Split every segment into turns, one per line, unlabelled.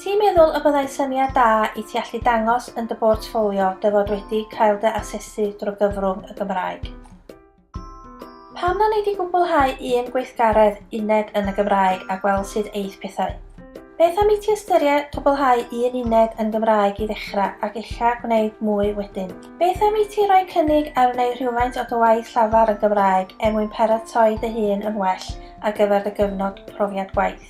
Ti'n meddwl y byddai syniad da i ti allu dangos yn dy bortffolio dy fod wedi cael dy asesu drwy gyfrwng y Gymraeg? Pam na nei di gwblhau un gweithgaredd uned yn y Gymraeg a gweld sut eith pethau? Beth am i ti ystyried cwblhau un uned yn Gymraeg i ddechrau ac ella gwneud mwy wedyn? Beth am i ti roi cynnig ar wneud rhywfaint o dy waith llafar yn Gymraeg er mwyn paratoi dy hun yn well ar gyfer dy gyfnod profiad gwaith?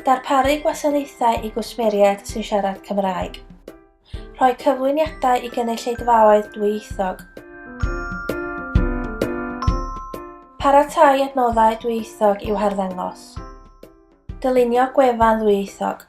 Darparu gwasanaethau i gwsmeriaid sy'n siarad Cymraeg. Rhoi cyflwyniadau i gynulleidfaoedd dwyieithog. Paratoi adnoddau dwyieithog i'w harddangos. Dylunio gwefan ddwyieithog.